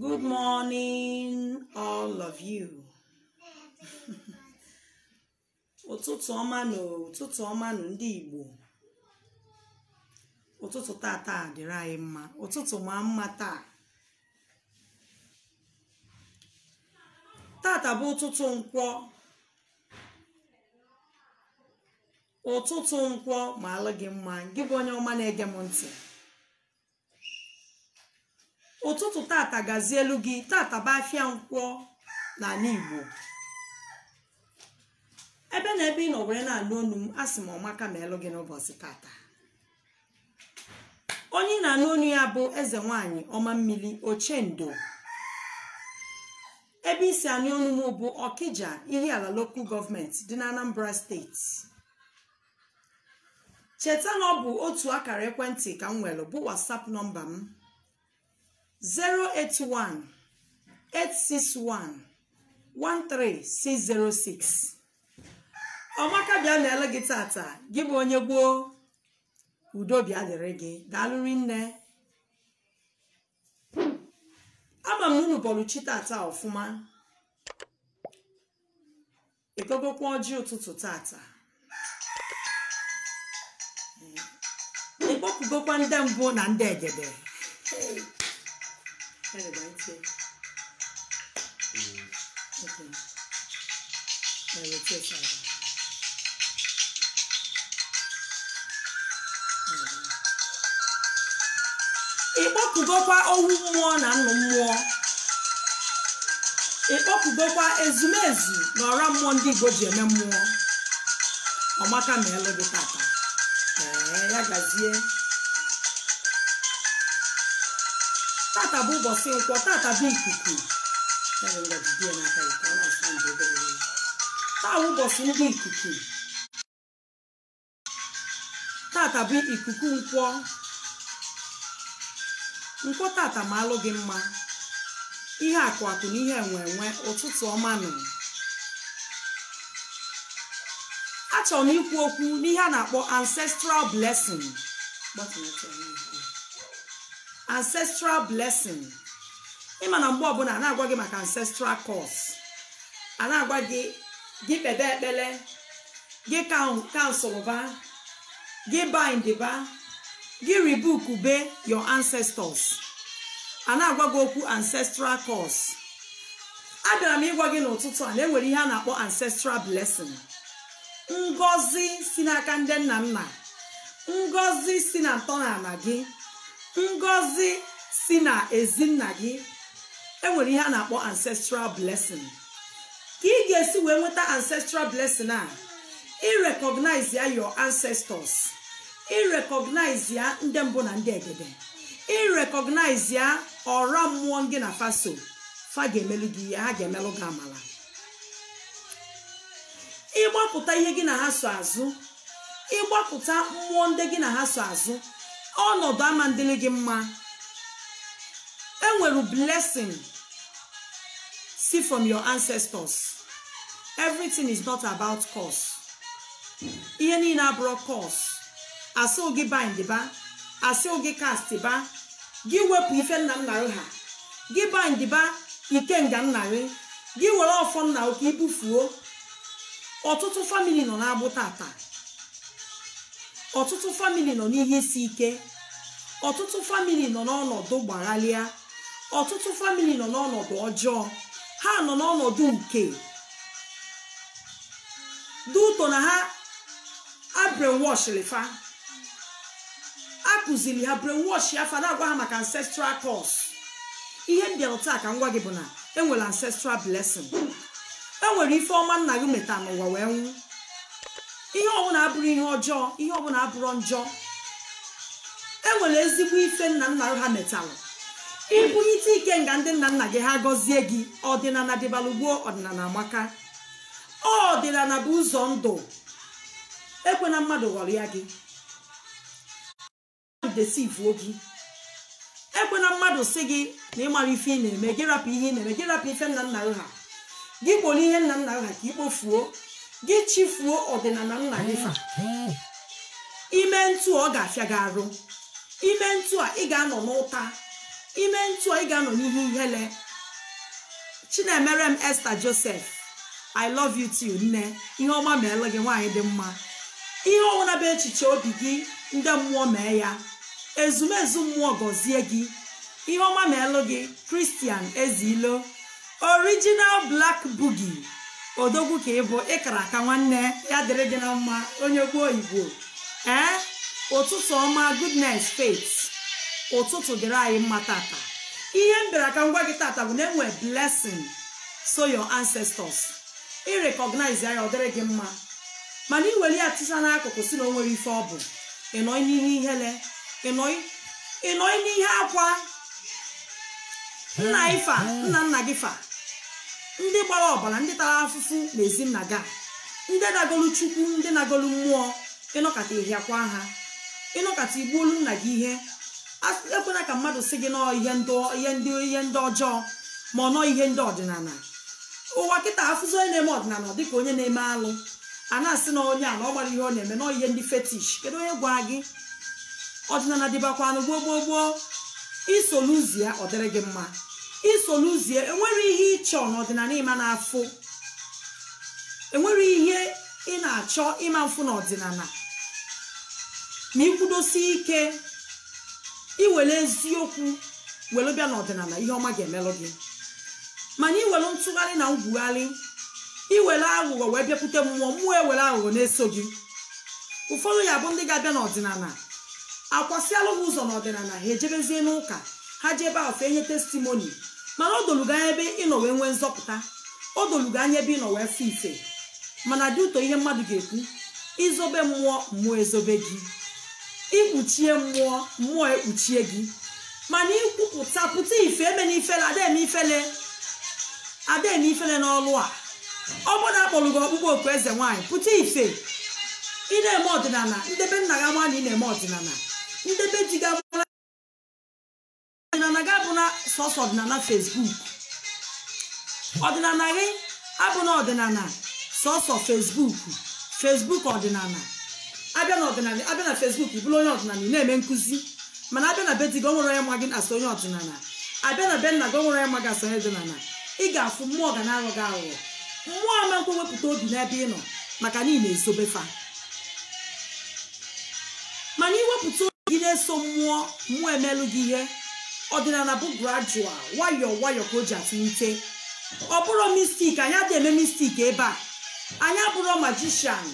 Good morning, all of you. ụtụtụ ọma nụ ụtụtụ ọma nụ ndị Igbo ụtụtụ tata dịrị anyị mma ụtụtụ maa mma taa tata bụ ụtụtụ nkwọ ụtụtụ nkwọ maalụ gị mma gị bụ onye ọma na-ege m ntị ụtụtụ tata gazielụ gị tata bụ afịa nkwọ n'anị igbo ebe na ebe ị nọ were na-anụ onu m asị m ọmaka meelụ gị n'ụbọsị tata onye ị na-anụ onu ya bụ eze nwanyị ọma mmiri ochendo ebe i si anụ onu m bụ ọkija ihiala lokal gọọmenti dị na anambra steeti cheta na ọ bụ otu akara ekwentị ka m nwere bụ whatsapp nọmba m 081 861 13606 ọmaka bịa na-ele gị tata gị bụ onye igbo udo bịa dịrị gị daalụ rinne ama m na unu bọlụ chi tata ọfụma ị gọgokwa ọjị ụtụtụ tata ị kpọkugokwa ndị mbụ na ndị egede ị kpọkugokwa owu mmụọ na nnụ mmụọ ị kpọkugokwa ezumezu na ọra mmụọ ndị igbo ji eme mmụọ ọmaka meelụ gị tata ee ya gazie tata bụ ụbọsị nkwọ tata bụ ikuku taa bụ ụbọsị ndị ikuku tata bụ ikuku nkwọ nkwọ tata maalụ gị mma ihe akụ akụ na ihe enwe enwe ụtụtụ ọma nụ achọrọ m ikwu okwu n'ihe a na-akpọ ancestral blessing ancestral blessing ị ma na mgbe ọbụla a na-agwa gị maka ancestral curse a na-agwa gị gị kpebe ekpere gị cancel ba gị bind ba gị rebuke be your ancestors a na-agwa gị okwu ancestral curse abịara m ịgwa gị n'ụtụtụ a na enwere ihe a na-akpọ ancestral blessing ngọzi si n'aka ndị nna nna ngọzi si na ntọala gị ngọzi si na ezinna gị enwere ihe a na-akpọ ancestral blessing ka ị ga-esi wee nweta ancestral blessing a ịrecognize ya your ancestors ịrecognize ya ndị mbụ na ndị egede ịrecognize ya ọra mmụọ gị na fa so fa ga-emelụ gị ihe ha ga-emelụ gị amala ịgbakụta ihe gị na ha so azụ ịgbakụta mmụọ ndị gị na ha so azụ ọnọdụ ama adịrị gị mma enwere blessing si from your ancestors everything is not about curse ihe niile abụrọ curse asị gị bind ba asị gị cast ba gị wepụ ife nna nna gị ha gị bind ba ikenga nna gị gị were ọfọ nna gị ka ibufuo ọtụtụ family nọ n'agbụ tata ọtụtụ family nọ n'ihe isi ike ọtụtụ family nọ n'ọnọdụ gbaghalịa ọtụtụ family nọ n'ọnọdụ ọjọọ ha nọ n'ọnọdụ nke dị ụtọ na ha a brainwash fa akụziri ha brainwash ya fa na-agwa ha maka ancestral curse ihe m bịara taa ka m gwa gị bụ na enwere ancestral blessing enwere ife ọma nna gị meta n'ụwa wee nwụ ihe ọbụla abụrọ ihe ọjọọ ihe ọbụla abụrọ njọ enwere ezigbo ife nna nna ha metalụ ibunyite ikenga ndị nna nna gị ha gọzie gị ọdịnala dịbalụ gboo ọdịnala amaka ọdịnala bụ ụzọ ndụ ekwena mmadụ ghọrịa gị deceivuo gị ekwena mmadụ sị gị na ịmarọ ife ị na-eme gị rapụ ihe ị na-eme gị rapụ ife nna nna ha gị kporo ihe nna nna ha ka ikpofuo gị chịfuo ọdịnala nna gị fa ime ntu ọ ga-afịa gị arụ ime ntu a ị ga-anọ n'ụta ime ntu a ị ga-anọ n'ihe ihele Chinemerem Esther Joseph I love you too nne ihe ọma meelụ gị nwaanyị dị mma ihe ọbụla bụ echiche obi gị ndị mmụọ mee ya ezumezu mmụọ gọzie gị ihe ọma meelụ gị Christian Ezilo original black boogie odogwu ka ị bụ ịkara aka nwanne ya dịrị gị na mma onye gboo igbo ee ụtụtụ ọma goodness faith ụtụtụ dịrị anyị mma tata ihe m bịara ka m gwa gị tata bụ na enwere blessings of your ancestors ị recognize ya ọ dịrị gị mma mana ị were ya tụsa n'akụkụ sị na o nwere ife ọ bụ ịnọ n'ihe ihere ịnọ ịnọ n'ihe akwa nna gị fa nna nna gị fa ndị gbara ọbara ndị tara afụfụ na ezi nna gị ndị na-agọlụ chukwu ndị na-agọlụ mmụọ ịnọkata ịhịakwa ha ịnọkata igbuolu nna gị ihe ekwena ka mmadụ sị gị na ọ ihe ndị ihe ndị ihe ndị ọjọọ mana ọ ihe ndị ọdịnala ụwa kịta afụzi onye na-eme ọdịnala dịka onye na-eme alụ a na-asị na onye a na ọ mara ihe ọ na-eme na ọ ihe ndị fetish kedu onye gwara gị ọdịnala dịbakwanụ gboo gboo gboo isoluzie ọ dịrị gị mma isoluzie enwere ihe ịchọ n'ọdịnala ịma na-afụ enwere ihe ị na-achọ ịma mfụ n'ọdịnala ma ịkwụdosi ike iwere eziokwu were bịa n'ọdịnala ihe ọma ga-emelụ gị mana iwere ntụgharị na ngwugharị iwere aghụghọ wee bịakwute mmụọ mmụọ ewere aghụghọ na-eso gị ụfọdụ ya bụ ndị ga-abịa n'ọdịnala akwasịalụ ha ụzọ n'ọdịnala ha ejebezie n'ụka ha je ebe afụ enye testimony mana o dolu gị anya ebe ịnọ wee nwee nzọpụta o dolu gị anya ebe ịnọ wee fụ ife mana dị ụtọ ihe mmadụ ga-ekwu izobe mmụọ mmụọ ezobe gị ikpuchie mmụọ mmụọ ekpuchie gị mana ikwupụta pụta ife emena ifele ada eme ifele ada eme ifele n'ọlụ a ọ bụrụ na akpọrọ gị ọkpụkpọ oku eze nwaanyị pụta ife ị na-eme ọdịnala ndị be nna gị ama na ị na-eme ọdịnala ndị be di gị amara ọdịnala gị abụna sọsọ ọdịnala facebook ọdịnala gị abụna ọdịnala sọsọ facebook facebook ọdịnala abịa na ọdịnala abịa na facebook ị bụrụ onye ọdịnala ị na-eme nkụzi mana abịa na be di gị onwere onye ma gị as onye ọdịnala abịa na be nna gị onwere onye ma gị as onye ọdịnala ị ga-afụ mmụọ ga na-aghọ gị aghụghọ mmụọ ama nkwe wepụta obi n'ebe ị nọ maka na ị na-ezobe fa mana iwepụta obi gị na-eso mmụọ mmụọ emelụ gị ihe ọdịnala bụ gradual nwayọọ nwayọọ ka o ji etolite ọ bụrọ magic anyị adịghị eme magic ebe a anyị abụrọ magician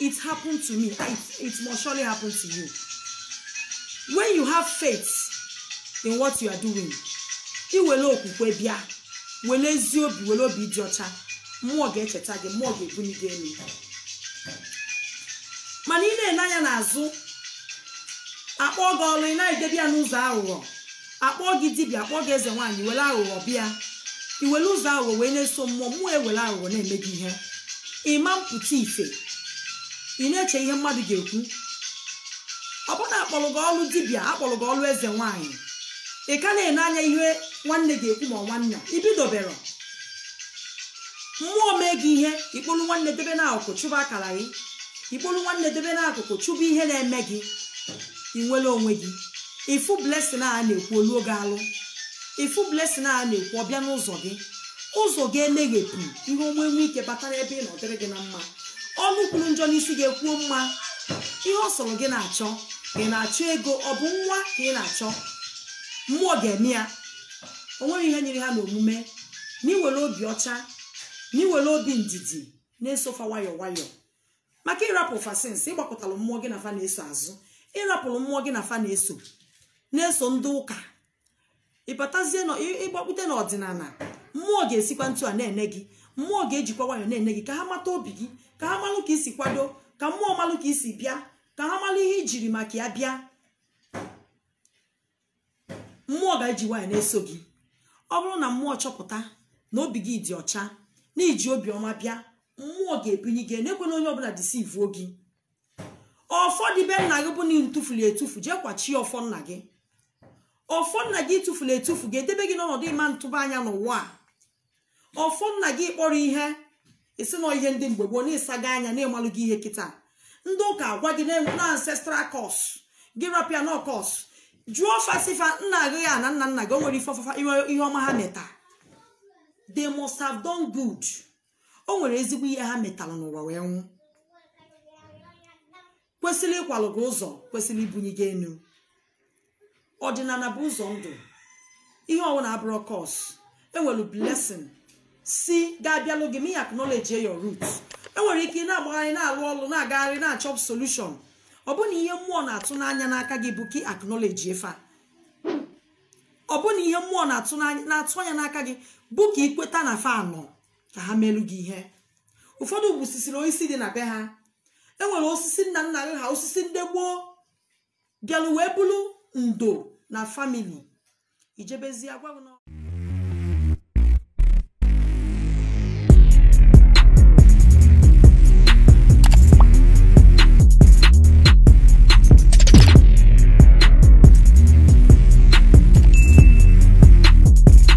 it happened to me it, it must surely happen to you when you have faith in what you are doing iwere okwukwe bịa were ezi obi were obi dị ọcha mmụọ ga-echeta gị mmụọ ga-ebuli gị elu mana ị na-ele anya n'azụ akpọ gị ọrụ ị na-edebe ya n'ụzọ aghụghọ akpọọ gị dibịa akpọọ gị eze nwaanyị were aghụghọ bịa iwere ụzọ aghụghọ wee na-eso mmụọ mmụọ ewere aghụghọ na-eme gị ihe ịma mpụta ife ị na-eche ihe mmadụ ga-ekwu ọ bụrụ na akpọrọ gị ọrụ dibịa akpọrọ gị ọrụ eze nwaanyị ị ka na-ene anya ihe nwanne ga-ekwu ma nwanne ibidoberọ mmụọ mee gị ihe ikpolu nwanne debe n'akụkụ chụba akara gị ikpolu nwanne debe n'akụkụ chụba ihe na-eme gị ị nwere onwe gị ifu blessing a na-ekwu oluo gị alụ ifu blessing a na-ekwu ọbịa n'ụzọ gị ụzọ gị emeghepụ ihe ọma enwe ike batara ebe ị nọ ọ dịrị gị na mma ọnụ kwuru njọ n'isi gị ekwuo mma ihe ọ sọrọ gị na-achọ ị na-achọ ego ọ bụ nwa ka ị na-achọ mmụọ ga-eme ya o nwerọ ihe nyịrị ha n'omume na iwere obi ọcha na iwere obi ndidi na-eso fa nwayọ nwayọ maka ịrapụ fa since ịgbakụtara mmụọ gị na fa na-eso azụ ịrapụrụ mmụọ gị na fa na-eso na-eso ndị ụka ịbatazie na ịgbakpute n'ọdịnala mmụọ ga-esikwa ntu a na-ene gị mmụọ ga-ejikwa nwayọ na-ene gị ka ha mata obi gị ka ha malụ ka isi kwado ka mmụọ malụ ka isi bịa ka ha malụ ihe ijiri maka ya bịa mmụọ ga-eji nwayọ na-eso gị ọ bụrụ na mmụọ chọpụta na obi gị dị ọcha na iji obiọma bịa mmụọ ga-ebinye gị na-ekwena onye ọbụna deceivuo gị ọfọ dị be nna gị bụ na ị tufulu etufu jee kwachie ọfọ nna gị ọfọ nna gị ị tufuru etufu ga-edebe gị n'ọnọdụ ịma ntụba anya n'ụwa a ọfọ nna gị ị kpọrọ ihe ị sị na ọ ihe ndị mgbe gboo na ị sago anya na ị malụgo ihe kịta ndị ụka agwa gị na-enwe na ancestral curse gị rapụ ya na ọ curse jụọ fa sị fa nna gị ya na nna nna gị o nwere ife ọfafa ihe ọma ha meta they must have done good o nwere ezigbo ihe ha metalụ n'ụwa wee nwụ kwesịrị ịkwalụ gị ụzọ kwesịrị ibunye gị enu ọdịnala bụ ụzọ ndụ ihe ọwụna abụrọ curse enwere blessing si ga-abịalụ gị ma ị acknowledge your root enwere ike ị na-agbagharị na-alụ ọlụ na-agagharị na-achọ solution ọ bụ na ihe mmụọ na-atụ n'anya n'aka gị bụ ka ị acknowledge fa ọ bụ na ihe mmụọ na-atụ n'anya- na-atụ anya n'aka gị bụ ka ị kweta na fa nọ ka ha meelu gị ihe ụfọdụ gbusisiri osisi dị na be ha e nwere osisi nna nna gị ha osisi ndị gboo bịalụ wee bụrụ ndo na family ijebezi agwa gị na